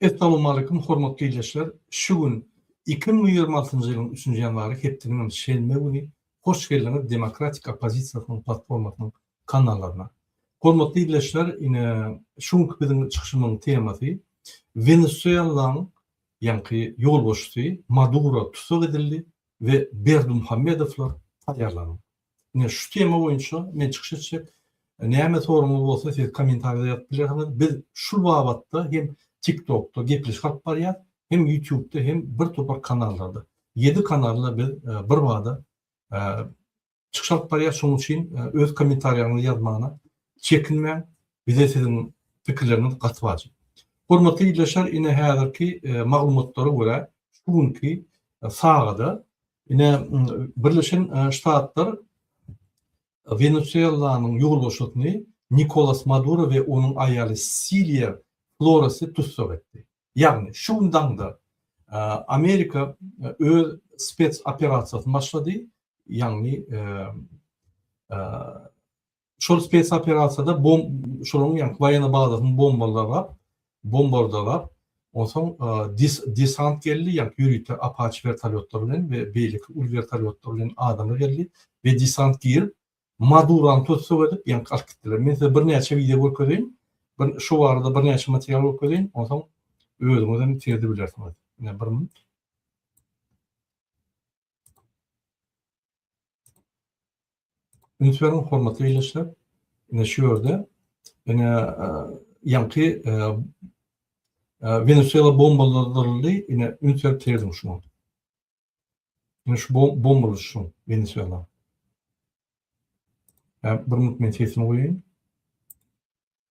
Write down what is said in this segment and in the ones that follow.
Essalowmaleýkum hormatly ildeşler! Şu gün iki müň ýigrimi altynjy ýylyň üçünji ýanwary hepdiniňem şenbe güni hoş geldiňiz Demokratik oppozisiýasynyň platformasynyň kanallaryna. Hormatly ildeşler ine şu günki biziň çykyşymyzyň temasy Wenesuelaň ýaňky ýolbaşçysy Maduro tussag edildi we Berdimuhamedowlar taýýarlanyň. Ine şu tema boýunça men çykyş etjek. Näme soragyňyz bolsa siz kommentarida ýazyp bilersiňiz. Biz şul babatda hem TikTokda gepleşik alyp barýas, hem Ýutubda hem bir topar kanallarda. Ýedi kanalda biz birbada çykyş alyp barýas şonuň üçin öz kommentariýaňyzy ýazmagyna çekinmäň bize siziň pikirleriňiz gaty wajyp. Hormatly ildeşler ine häzirki maglumatlara görä şu günki sagada ine birleşen ştatlar Wenesuelanyň ýolbaşçysyny Nikolas Maduro we onuň aýaly Siliýa Floresi tussag etdi. Ýagny şu gün daňda Amerika öz spes operasiýasyny başlady Ýagny şol spes operasiýada bom şolaryň ýagny waýona bazasyny bombalap, bombardalap, onsoň desant geldi, ýagny ýörite Apaçi wertolýotlar bilen we beýleki uly wertolýotlar bilen adamlar geldi we desant girip, Madurany tussag edip, ýagny alyp gitdiler. Men size birnäçe wideo görkezeýin, bir şu barada birnäçe material görkezeýin, onsoň özüňiz hem sezdi bilersiňiz. Ine bir Üns beriň hormatly ildeşler. Ine şu ýerde ine ýaňky Wenesuela bombalandyryldy. Ine üns berip serediň şuňa. Ine şu bombaly şu Wenesuela. Bir minut men sesimi goýaýyn.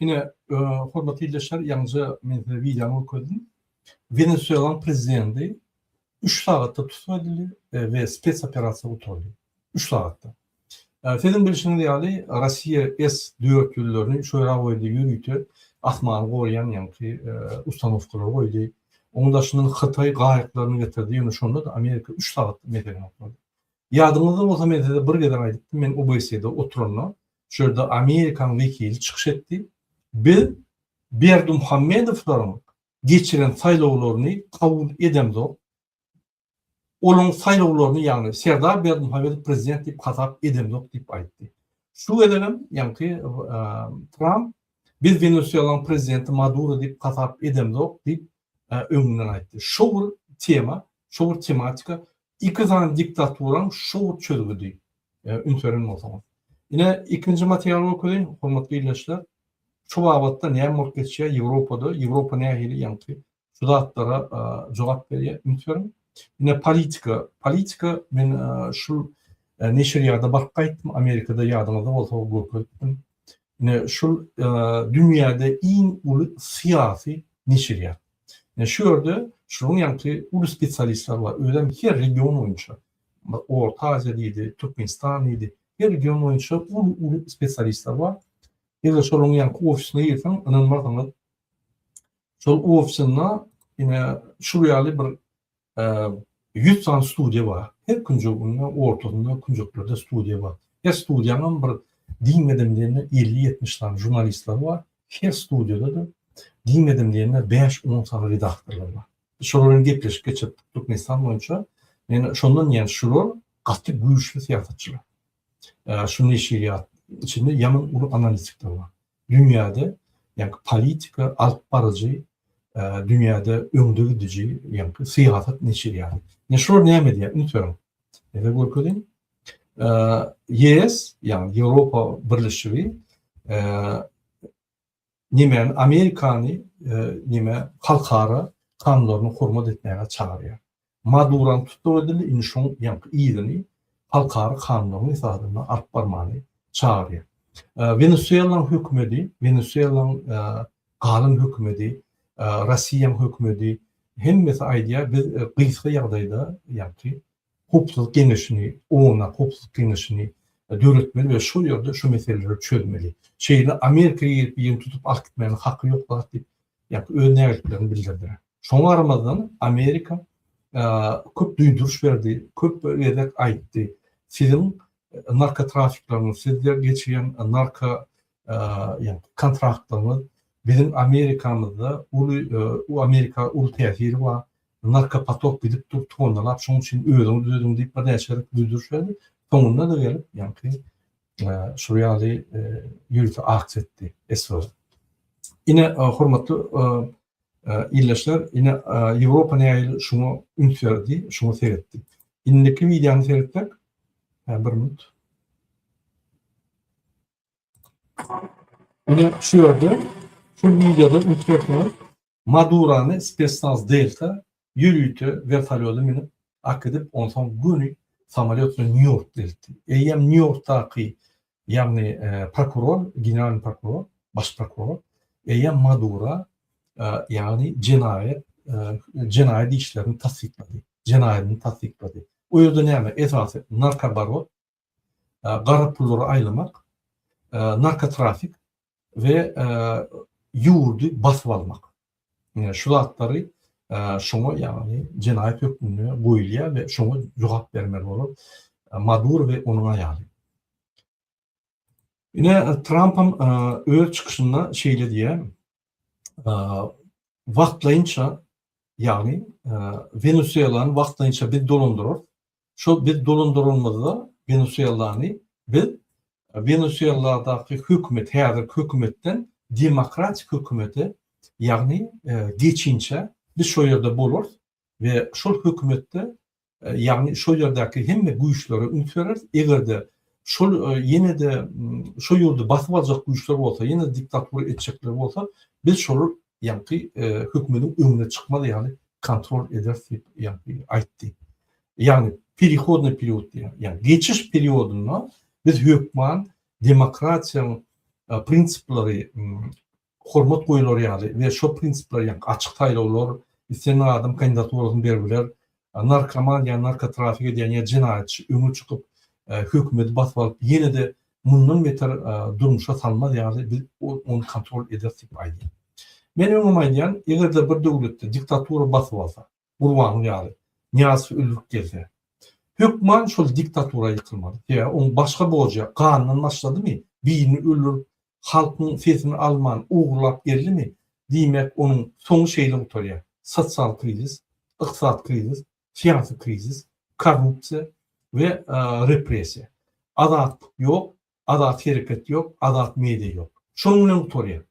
Ine, hormatly ildeşler, ýaňyja men size wideony görkezdim. Wenesuelanyň prezidenti üç sagatda tussag edildi we spes-operasiýa gutardy. Üç sagatda. Siziň bilşiňiz ýaly, Russiýa S dört ýüllerini şu ýere goýdy, ýörite asmany goraýan ýaňky ustanowkalary goýdy. Onuň daşyndan Hytaý gaýyklaryny getirdi, ýöne şonda-da Amerika üç sagat meseleni oklady. Ýadyňyzda bolsa, men size bir gezek aýdypdym, men OBSE-de oturanda, Şu ýerde Amerikanyň wekili çykyş etdi. Biz Berdimuhamedowlaryň geçiren saýlawlaryny kabul edemzok. Olaryň saýlawlaryny, ýagny Serdar Berdimuhamedow prezident diýip hasap edemzok diýip aýtdy. Şu gezegem, ýaňky Tramp biz Wenesuelanyň prezidenti Maduro diýip hasap edemzok diýip öňünden aýtdy. Şu bir tema, şu bir tematika Iki sany diktaturam şu çözgüdi üns beren bolsaňyz. Ine ikinji material görkezin hormatly ildeşler. Şu babatda näme bolup geçýär Ýewropada, Ýewropa nähili ýaňky şu zatlara jogap berýär üns beriň. Ine politika, politika men şu neşirýada baryp gaýtdym Amerikada ýadyňyzda bolsa görkezipdim. Ine şu dünýäde iň uly syýasy neşirýat. Ine şu ýerde şunuň ýaňky uly spesialistler bar. Özem her region boýunça. Orta Aziýa diýdi, Türkmenistan diýdi. Her region boýunça uly-uly spesialistler bar. Eger şolaryň ýaňky ofisine girseň, ynanmarsyňyz, şol ofisinde ine şul ýaly bir Ýüz sany studiýa bar. Her künjeginde, ortasynda, künjeklerde studiýa bar. Her studiýanyň bir diýmedim diýende elli-ýetmiş sany žurnalistleri bar. Her studiýada-da diýmedim diýende bäş-on sany redaktorlary bar. Biz şolar bilen gepleşik geçiripdik Türkmenistan boýunça. Ýöne şondan diýýän şular gaty güýçli syýasatçylar. Şu neşirýat içinde ýaman uly analitikler bar. Dünýäde ýaňky politika alyp baryjy dünýäde öňde gidiji ýaňky syýasat neşir ýaly. Ine şular näme edýär? Üns beriň. Ýa-da görkeziň. YS ýaňky Ýewropa birleşigi näme Amerikany näme halkara kanunlaryny hormat etmäge çagyrýar. Maduranyň tussag edildi, indi şoň ýaňky yzyny halkara kanunlaryň esasynda alyp barmaly çagyrýar. Wenesuelanyň hökümedi, Wenesuelanyň galan hökümedi, Rossiýanyň hökümedi hemmesi aýdýar, biz gysga ýagdaýda ýaňky howpsuzlyk geňeşini, OONA howpsuzlyk geňeşini döretmeli we şol ýerde şu meseleleri çözmeli. Şeýle Amerika gelip ýene tutup alyp gitmäge haky ýok zat diýip ýa-da öz nägileliklerini bildirdiler. Şoňa garamazdan, Amerika köp duýduryş berdi, köp gezek aýtdy, siziň narkotrafikleriňiz, sizde geçýän narko kontraktlaryňyz biziň Amerikamyzda uly, Amerika uly täsiri bar, narkopotok gidip dur, tonnalap, şonuň üçin özüňiz düzediň diýip birnäçe gezek duýduryş berdi. Soňunda-da gelip, ýagny, Şu ýaly ýüzi ak çetdi Eswerin. Ine, hormatly ildeşler, ine Ýewropa nähili şuňa üns berdi, şuňa seretdi. Indiki wideony seretsek, hä bir minut. Ine şu ýerde, şu wideoda üns berseňiz, Madurany spesnaz Delta ýörite wertolýoda münüp akidip onsoň göni samolýot bilen Nýu Ýorka eltdi. Eýýäm Nýu Ýorkdaky ýagny prokuror, generalny prokuror, baş prokuror eýýäm Madura ýagny jenaýat jenaýat işlerini tassyklady, jenaýadyny tassyklady. O ýerde näme esasy narkobarot gara pullary aýlamak, narkotrafik we ýurdy basyp almak. Şu zatlary şoňa ýagny jenaýat hökmünde goýulýar we şoňa jogap bermeli bolar Maduro we onuň aýaly. Ine Trampam öz çykyşynda şeýle diýýär, wagtlaýynça ýagny Wenesuelany wagtlaýynça biz dolandyrarys, Şol biz dolandyrylmazda Wenesuellany biz Wenesuelladaky hökümet häzirki hökümetden demokratik hökümete ýagny geçinçä biz şol ýerde bolarys we şol hökümetde ýagny şol ýerdäki hemme güýçlere üns bereris egerde şol ýenede şo ýurdy basyp aljak güýçler bolsa ýene diktatura etjekler bolsa biz şol ýaňky hökmüniň öňüne çykmaz ýaly kontrol ederis diýip ýaňky aýtdy. Ýagny perihodnyý period diýýär. Ýagny geçiş periodynda biz hökman demokratiýanyň prinsiplary hormat goýular ýaly we şol prinsipler ýaňky açyk saýlawlar, islendik adam kandidaturasyny berip biler, narkoman ýa narkotrafik edýän ýa jenaýatçy öňe çykyp hökümedi basyp alyp ýenede mundan beter durmuşa salmaz ýaly biz ony kontrol ederis diýip aýdýar. Men öňem aýdýan egerde bir döwletde diktatura basyp alsa Gurbanguly ýaly Nyýazow öldürip gelse hökman şol diktatura ýykylmaly sebäbi oň başga borjy ýok gandan başladymy birini öldürip halkyň sesini alman ogurlap geldimi, diýmek onuň soňy şeýle gutarýar, sosial krizis, ykdysady krizis, syýasy krizis, korrupsiýa we repressiýa. Azatlyk ýok, azat hereket ýok, azat media ýok. Şonuň bilen gutarýar.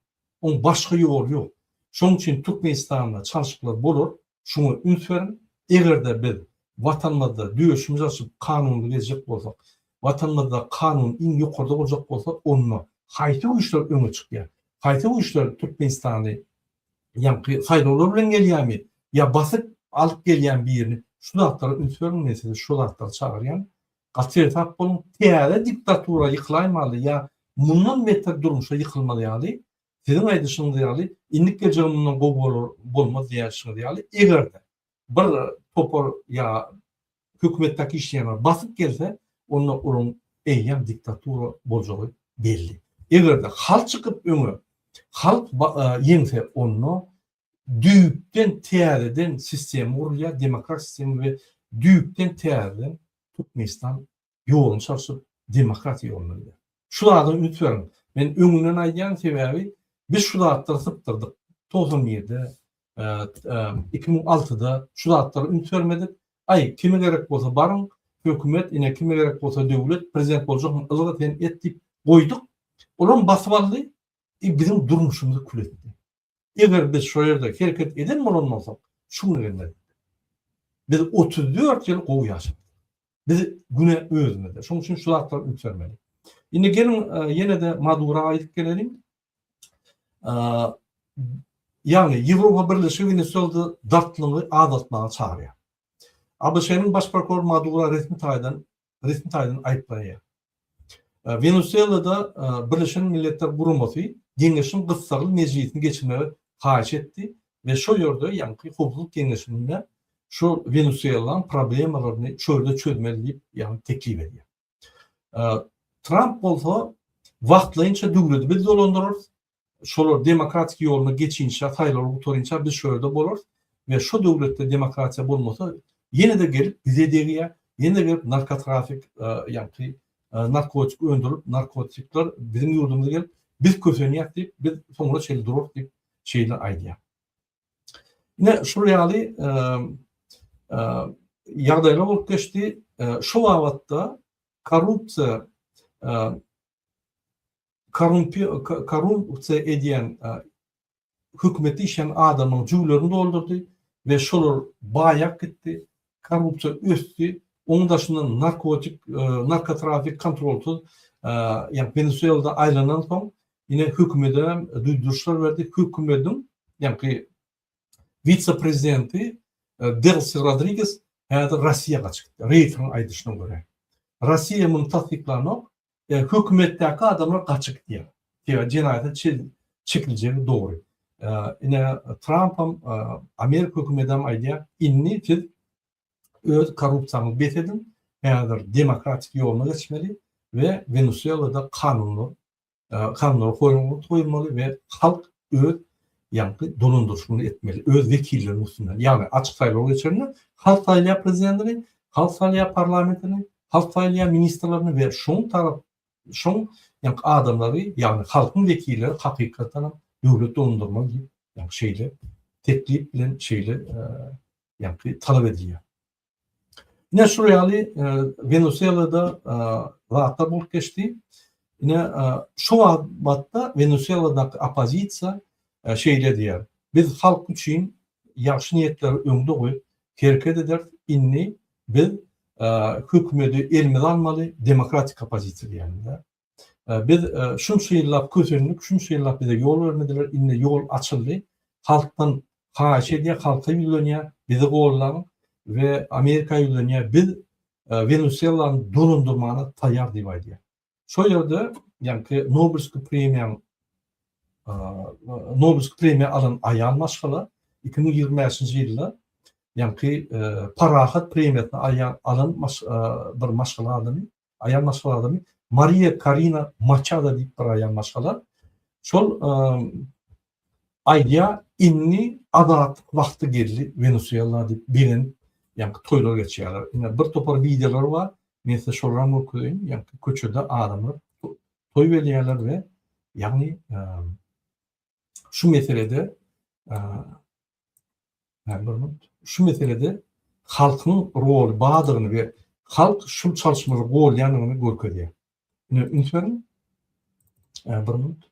Oň başga ýoly ýok. Şonuň üçin Türkmenistanda çalşyklar bolar, Şuňa üns beriň. Eger-de biz Watanymyzda döşümizi açyp kanuny gezjek bolsak, Watanymyzda kanun iň ýokarda boljak bolsa, onda haýsy güýçler öňe çykýar? Haýsy güýçler Türkmenistany ýaňky saýlawlar bilen gelýärmi ýa basyp alyp gelýärmi birini? Şu zatlara üns beriň, men sizi şu zatlara çagyrýan. Gaty ersap boluň. Täze diktatura ýykylaýmaly ýa mundan beter durmuşa ýykylmaly ýaly Siziň aýdyşyňyz ýaly, indik geljegim mundan gowy bolar, bolmaz diýýänçiňiz ýaly, eger-de bir topar ýa hökümetdäki işleýänler basyp gelse, onda olaryň eýýäm diktatura boljagy belli. Eger-de halk çykyp öňe, halk ýeňse, onda düýpden täzeden sistema gurulýar, demokratik sistema we düýpden täzeden Türkmenistan ýoluny çalşyp, demokratiýa ýoluna gider. Şu zada üns beriň. Men öňünden aýdýan, sebäbi biz şu zatlary sypdyrdyk. Togsan birde, iki müň altyda şu zatlara üns bermedik. Aý, kime gerek bolsa baryň, hökümet, ine, kime gerek bolsa döwlet, prezident boljakmy, ylga sen et diýip goýduk. Olam basyp aldy, biziň durmuşymyzy kül etdi. Eger biz şo ýerde hereket eden bolan bolsak, şu güne gelmezdik. Biz otuz dört ýyl gowy ýaşadyk. Biz güne özümizde. Şonuň üçin şu zatlar üýtgemeli. Indi geliň ýene-de Madura gaýdyp geleliň. Ýagny Ýewropa Birleşigi Wenesuelada dartgynlygy azaltmaga çagyrýar. ABŞ-nyň baş prokurory Madura resmi taýdan resmi taýdan aýyplanýar. Wenesuelada Birleşen Milletler Guramasy geňeşiň gyssagly mejlisini geçirmegi haýyş etdi we şo ýerde, ýagny Howpsuzlyk geňeşinde şu Wenesuelanyň problemalaryny şu ýerde çözmeli diýip, ýagny teklip edýär. Tramp bolsa wagtlaýynça döwleti biz dolandyrarys, şolar demokratik ýoluna geçinçä, saýlawlar gutarynça biz şo ýerde bolarys we şo döwletde demokratiýa bolmasa ýene-de gelip bize degýär, ýene-de gelip narkotrafik ýagty narkotik öndürip, narkotikler biziň ýurdumyza gelip biz kösenýäs diýip biz soňuna çenli durarys diýip şeýle aýdýar. Ine şol ýaly ýagdaýlar bolup geçdi. Şo babatda korrupsiýa Korrumpiýa edýän hökümete işleýän adamlaryň jübülerini doldurdy we şolar baýap gitdi, korrupsiýa ösdi. Onuň daşyndan narkotik, narkotrafik kontrolsyz ýa Wenesuelada aýlanansoň, ine hökümede duýduryşlar berdi. Hökümediň ýaňky wise-prezidenti Delsi Rodriges häzir Rossiýa gaçyp gitdi. Reýteriň aýdyşyna görä. Rossiýa muny tassyklanok. Ýa hökümetdäki adamlar gaça gitýär. Sebäbi jenaýata çil çekiljegi dogry. Ine Trampam, Amerika hökümetem aýdýar, indi siz öz korrupsiýaňyzy bes ediň, häzir demokratik ýoluna geçmeli we Wenesuelada kanunlar kanunlara goýulmaly we halk öz ýaňky dolandyryş muny etmeli, öz wekilleriniň üstünden. Ýagny açyk saýlaw geçirende halk saýlaýar prezidentini, halk saýlaýar parlamentini, halk saýlaýar ministrlerini we şoň tarap şoň ýaňky adamlary, ýagny halkyň wekilleri hakykatdan hem döwlet dolandyrmaly diýip, ýagny şeýle teklip bilen şeýle ýagny talap edilýär. Ine şul ýaly Wenuselada zatlar bolup geçdi. Ine şu batda Wenuseladaky oppozisiýa şeýle diýýär. Biz halk üçin ýagşy niýetleri öňde goýup hereket ederis. Indi biz hökümeti elimize almaly, demokratik oppozisiýa diýýärler. Biz şunça ýyllap kösendik, şunça ýyllap bize ýol bermediler, indi ýol açyldy. Halkdan haýyş edýär, halka ýüzlenýär, bizi gollan we Amerika ýüzlenýär, biz Wenusuelany dolandyrmana taýýar diýip aýdýar. Şol ýerde, ýaňky Nobelski premiýaň Nobelski premiýa alan aýal maşgala 2025-nji ýylda ýaňky Parahat premiýasyny aýan alan bir maşgala adamy Aýal maşgalalaryny Mariýa Karina Maçado diýip bir aýal maşgala şol aýdýar, indi azatlyk wagty geldi Wenesuela diýip begenip, ýaňky toýlar geçýärler. Ine bir topar wideolar bar, men size şolaram görkezeýin, ýaňky köçede adamlar toý belýärler we ýagny şu meselede şu meselede halkyň roly bardygyny we halk şul çalyşmada golýandygyny görkezýär. Ine, üns beriň. Bir minut.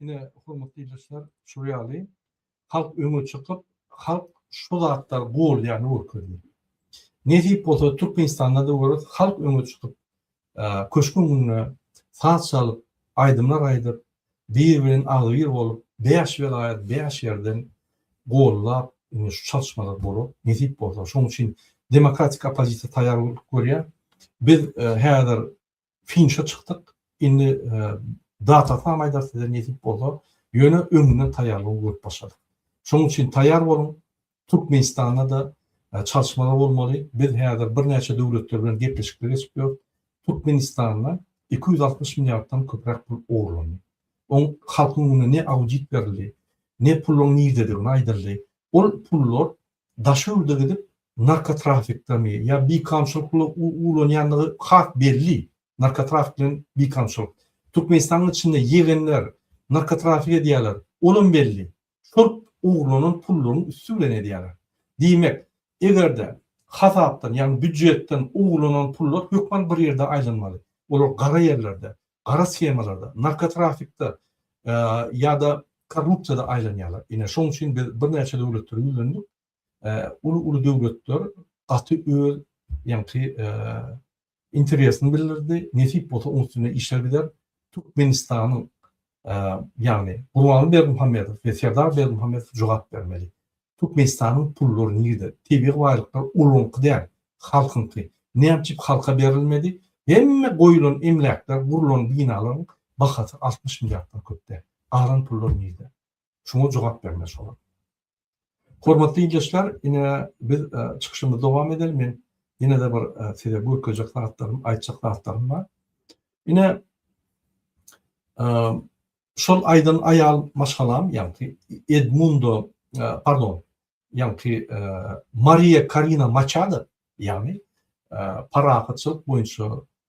Ine, hormatly ildeşler, şular ýaly halk öňe çykyp, halk şu zatlar bolýany görkezýär. Nesip bolsa Türkmenistanda da görüp, halk öňe çykyp, köşküň öňünde saz çalyp, aýdymlar aýdyp, bir bilen agzybir bolup, bäş welaýat bäş ýerden gollap, indi şu çalyşmalar bolar. Nesip bolsa, şonuň üçin demokratik oppozisiýa taýýarlyk görýär. Biz häzir finişe çykdyk. Indi datasynam aýdarys size nesip bolsa. Ýöne öňünden taýýarlygy görüp başladyk. Şonuň üçin taýýar boluň. Türkmenistanda-da çalyşmalar bolmaly. Biz häzir birnäçe döwletler bilen gepleşikler geçip ýörüs. Türkmenistanda iki ýüz altmyş milliarddan köpräk pul ogurlandy. Oň halkyň öňünde ne audit berildi, ne puluň nirdedigini aýdyldy. Ol pullar daş ýurda gidip narkotrafikdami ýa bikamçylyk bilen ulanýandygy has belli, narkotrafik bilen bikamçylyk. Türkmenistanyň içinde ýegenler narkotrafik edýärler, olam belli, şol ogurlanan pullaryň üsti bilen edýärler. Diýmek, eger-de hasapdan, ýagny býujetden ogurlanan pullar hökman bir ýerde aýlanmaly, olar gara ýerlerde, gara shemalarda, narkotrafikde ýa-da korrupsiýada aýlanýarlar. Ine, şonuň üçin biz birnäçe döwletleri ýüzlendik. Uly-uly döwletler gaty öz ýaňky interesini bildirdi. Nesip bolsa, onuň üstünde işler gider. Türkmenistanyň, ýagny Gurbanguly Berdimuhamedow we Serdar Berdimuhamedow jogap bermeli. Türkmenistanyň pullary nirde? Tebigy baýlyklar olaňky däl, halkyňky. Näme üçin halka berilmedi? Hemme goýulan emläkler, gurlan binalaryň bahasy altmyş milliarddan köp däl. Galan pullar nirde? Şuňa jogap bermeli olar. Hormatly ildeşler, ine biz çykyşymyzy dowam edeli. Men ýene-de bir size görkezjek zatlarym, aýtjak zatlarym bar. Ine, Şol aýdan aýal maşgalam, ýaňky Edmundo, pardon, ýaňky Mariýa Karina Maçado, ýagny parahatçylyk boýunça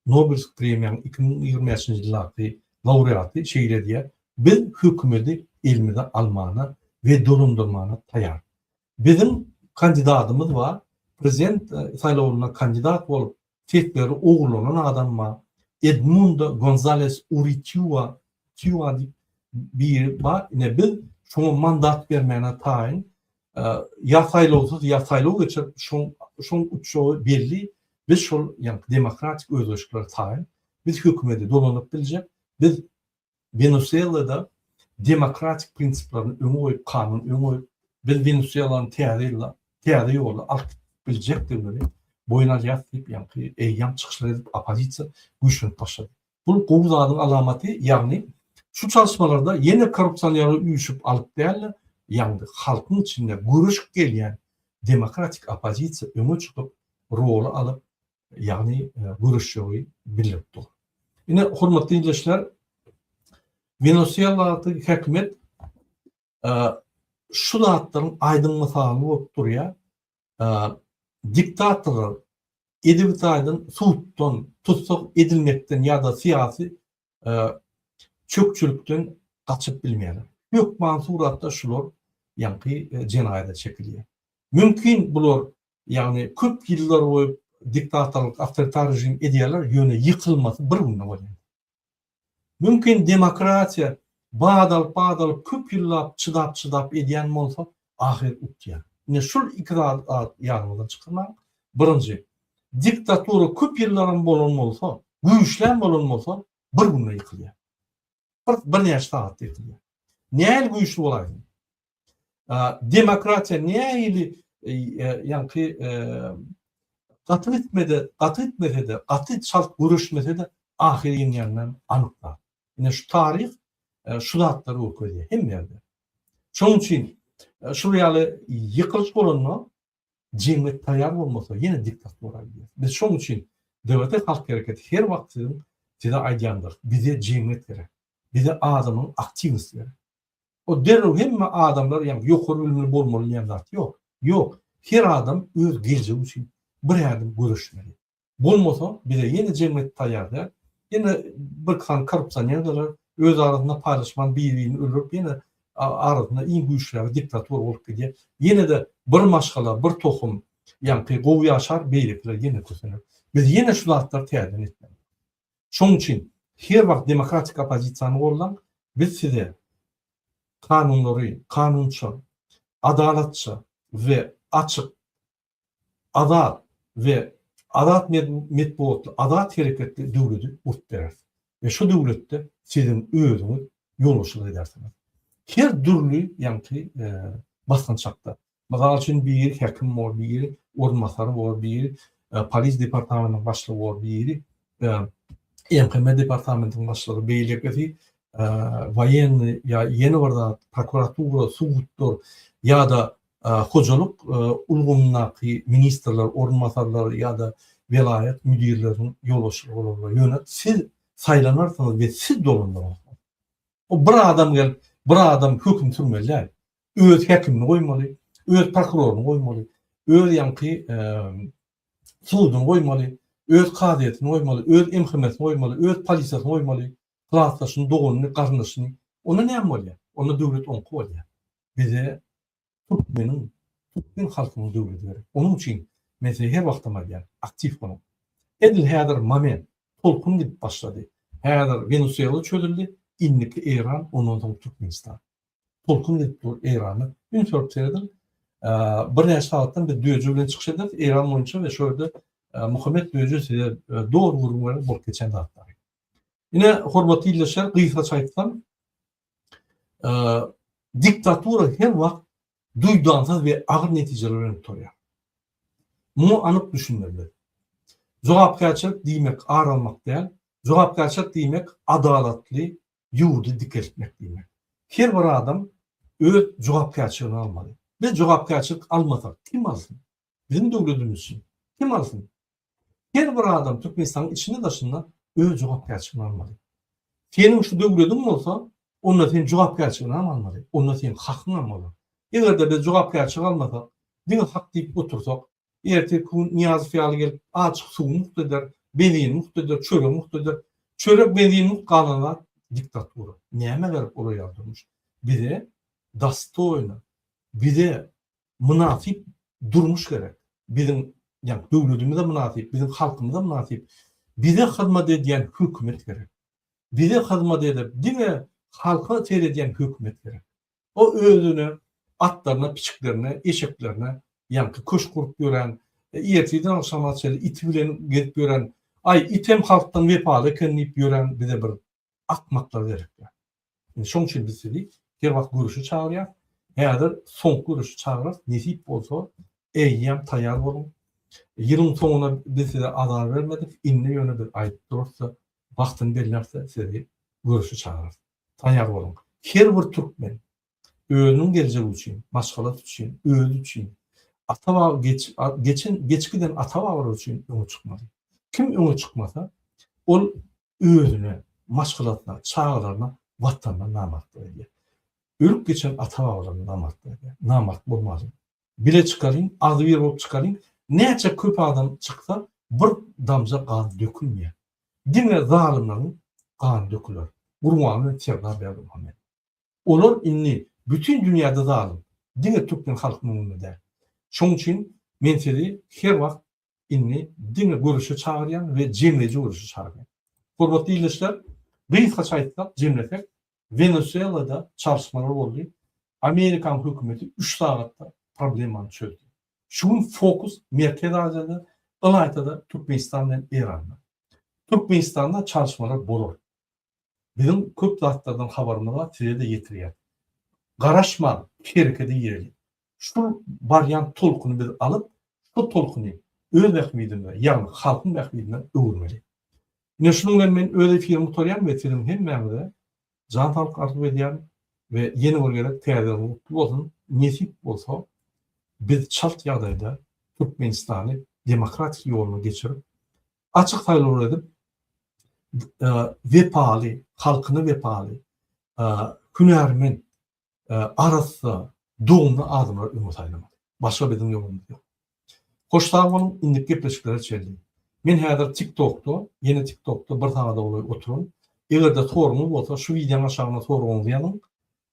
Nobelsk premiýanyň iki müň ýigrimi bäşinji ýyldaky laureaty şeýle diýýär, Biz hökümeti elimize almana we dolandyrmana taýar. Biziň kandidatymyz bar, prezident saýlawynda kandidat bolup, sesleri ogurlanan adam bar, Edmundo Gonzales Uritiua Tiua diýip biri bar, ine biz şoňa mandat bermäne taýyn, ýa saýlawsyz, ýa saýlaw geçirip, şoň şoň utjagy belli, biz şol ýaňky demokratik özgerişlere taýyn, biz hökümeti dolanyp biljek, biz Wenesuelada demokratik prinsiplaryny öňe goýup, kanuny öňe goýup, biz Wenesuelany täze ýylda täze ýolda alyp gitip biljekdigimizi boýun alýarys diýip, ýaňky eýýäm çykyşlar edip, oppozisiýa güýçlenip başlady. Bu gowy zadyň alamaty, ýagny şu çalyşmalarda ýene korrupsionerler üýşüp alyp däl-de, ýagny halkyň içinde göreşip gelýän demokratik oppozisiýa öňe çykyp, roly alyp, ýagny göreşjegi bildirip dur. Ine, hormatly ildeşler, Wenesueladaky häkimiýet şu zatlaryň aýdyň mysaly bolup durýar. Diktatorlar edebi taýdan suddan, tussag edilmekden ýa-da syýasy çökçülikden gaçyp bilmeýärler. Hökman suratda şular ýaňky jenaýata çekilýär. Mümkin bular Ýagny köp ýyllar boýy diktatorlyk, awtoritar režim edýärler, ýöne ýykylmasy bir günde bolýar. Mümkin demokratiýa bat alyp, bat alyp köp ýyllap çydap, çydap edýän bolsa, ahyr utýar. Ine şul iki zady ýadyňyzdan çykarmaň. Birinji, diktatura köp ýyllaram bolan bolsa, güýçlem bolan bolsa, bir günde ýykylýar. Bir, birnäçe sagatda ýykylýar. Nähili güýçli bolaýsyn? Demokratiýa nähili ýaňky gaty gitmedi, gaty gitmesede, gaty çalt göreşmesede ahyr ýeňýänler anyk zat. Ine şu taryh şu zatlary görkezýär hemme ýerde. Şonuň üçin şuly ýaly ýykylyş bolanda jemgyýet taýýar bolmasa ýene diktatura gidýär. Biz şoň üçin DWT halk hereketi her wagt siziň size aýdýandyr. Bize jemgyýet gerek. Bize adamyň aktiwnosti gerek. O derrew hemme adamlar ýa ýokary bilimli bolmaly diýen zat ýok. Ýok. Her adam öz geljegi üçin bir ädim göreşmeli. Bolmasa, bize ýene jemgyýet taýýar däl. Ýene birki sany korrupsionerleri öz arasynda paýlaşman bir-birini öldürip ýene arasynda iň güýçlägi diktator bolup gidýär. Ýene-de bir maşgala, bir tohum ýaňky gowy ýaşar, beýlekiler ýene kösener. Biz ýene şu zatlary täzeden etmeli. Şonuň üçin her wagt demokratik oppozisiýany gollan, biz size kanunlary kanunça, adalatça we açyk Azat we azat metbugatly, azat hereketli döwledi gurt bereris we şo döwletde siziň özüňiz ýolbaşçylyk edersiňiz. Her dürli ýaňky basgançakda, mysal üçin biri häkim bor, biri orunbasar bor, biri polis departamentiniň başlygy bor, biri MHM departamentiniň başlygy, beýlekisi waýenny ýa ýene bir zat, prokuratura, suddyr ýa-da hojalyk ulgamyndaky ministrler orunbasarlary ýa-da welaýat müdirleriniň ýolbaşçylygy bolanda, ýöne siz saýlanarsyňyz we siz dolandyrarsyňyz. O bir adam gelip, bir adam höküm sürmeli däl. Öz häkimini goýmaly, öz prokuroryny goýmaly, öz ýaňky suduny goýmaly, öz kazyýetini goýmaly, öz MHM-sini goýmaly, öz polisiýasyny goýmaly, klasdaşyny, doganyny, garyndaşyny. Onda näme bolýar? Onda döwlet oňky bolýar. bize türkmeniň, türkmen halkynyň döwleti gerek. Onuň üçin men size her wagtam aýdýan, aktiw boluň. Edil häzir moment, tolkun gidip başlady. Häzir Wenusuela çözüldi, indiki Eýran, ondan soň Türkmenistan. Tolkun gidip dur Eýrana. Üns berip serediň. Birnäçe sagatdan biz düýeje bilen çykyş ederis Eýran boýunça we şu ýerde Muhammet düýeje size doly gürrüň berer bolup geçen zatlary. Ine, hormatly ildeşler, gysgaça aýtsam, diktatura her wagt duýdansyz we agyr netijeler bilen gutarýar. Muňa anyk düşünmelidir. Jogapkärçilik diýmek ar almak däl, jogapkärçilik diýmek adalatly ýurdy dikeltmek diýmek. Her bir adam öz jogapkärçiligini almaly. Biz jogapkärçilik almasak kim alsyn? Biziň döwledimiz üçin kim alsyn? Her bir adam Türkmenistanyň içinde daşynda öz jogapkärçiligini almaly. Seniň şu döwlediň bolsa, onda sen jogapkärçiligini hem almaly, onda seniň hakyň hem bolar. Eger-de biz jogapkärçilik almasak, diňe hak diýip otursak, erteki gün Nyýazow ýaly gelip, açyk suwy mugt eder, benzini mugt eder, çöregi mugt eder. Çörek, benzin mugt galan zat diktatura. Nämä gerek olar ýaly durmuş? Bize dostoýno, bize mynasyp durmuş gerek. Biziň, ýagny döwletimize mynasyp, biziň halkymyza mynasyp, bize hyzmat edýän hökümet gerek. Bize hyzmat edip, diňe halka seredýän hökümet gerek. O özüne, atlaryna, piçiklerine, eşeklerine, ýaňky köşk gurup ýören, ertirden agşama çenli iti bilen gezip ýören, aý, item halkdan wepaly eken diýip ýören bize bir akmaklar zerikýär. Indi şoň üçin biz sizi her wagt göreşe çagyrýas. Häzir soňky göreşe çagyrarys. Nesip bolsa, eýýäm taýýar boluň. Ýylyň soňuna biz size azar bermedik. Indi ýöne biz aýdyp durarys-da, wagtyny belläris-de sizi göreşe çagyrarys. Taýýar boluň. Her bir türkmen Özüniň geljegi üçin, maşgalasy üçin, özi üçin, ata-baba geç geçen geç giden ata-babalar üçin öňe çykmaly. Kim öňe çykmasa, ol özüne, maşgalasyna, çagalaryna, Watanyna namartlyk edýär. Ölüp geçen ata-babalaryna namartlyk edýär. Namart bolmalyň. Bile çykalyň, agzybir bolup çykalyň. Näçe köp adam çyksa, bir damja gan dökülmeýär. Diňe zalymlaryň gany döküler. Gurbanguly Serdar Berdimuhamedow. Olar indi bütin dünýäde zalym, diňe türkmen halkynyň öňünde däl. Şoň üçin men sizi her wagt indi diňe göreşe çagyrýan we jemleýji göreşe çagyrýan. Hormatly ildeşler, gysgaça aýtsak, jemlesek, Wenesuelada çalyşmalar boldy, Amerikan hökümeti üç sagatda problemany çözdi. Şu gün fokus Merkezi Aziýada, ylaýta-da Türkmenistan bilen Eranda. Türkmenistanda çalyşmalar bolar. Biziň köp zatlardan habarymyz-a size-de ýetirýär. Garaşman, hereket eýeli. Şul barýan tolkuny biz alyp, şo tolkuny öz bähbidimize, ýagny halkyň bähbidine öwürmeli. Ine, şunuň bilen men öz efirimi gutarýan we siziň hemmäňize jan saglyk arzuw edýän we ýene bir gezek Täze ýylyňyz gutly bolsun, nesip bolsa biz çalt ýagdaýda Türkmenistany demokratik ýoluna geçirip, açyk saýlawlar edip, wepaly, halkyna wepaly, hünärmen, arassa, doňly adamlary öňe saýlamaly. Başga biziň ýolumyz ýok. Hoş sag boluň, indiki gepleşiklere çenli. Men häzir TikTokda, ýene TikTokda bir sagada golaý oturyn. Eger-de soragyňyz bolsa, şu wideoň aşagyna soragyňyzy ýazyň.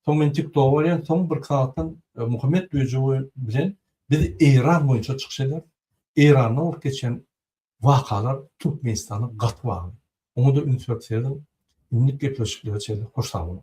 Soň men TikToga barýan, soň birki sagatdan Muhammet Döjewi bilen biz Eýran boýunça çykyş ederis. Eýranda bolup geçen wakalar Türkmenistana gaty bagly. Oňa-da üns berip serediň, indik gepleşiklere çenli hoş sag boluň!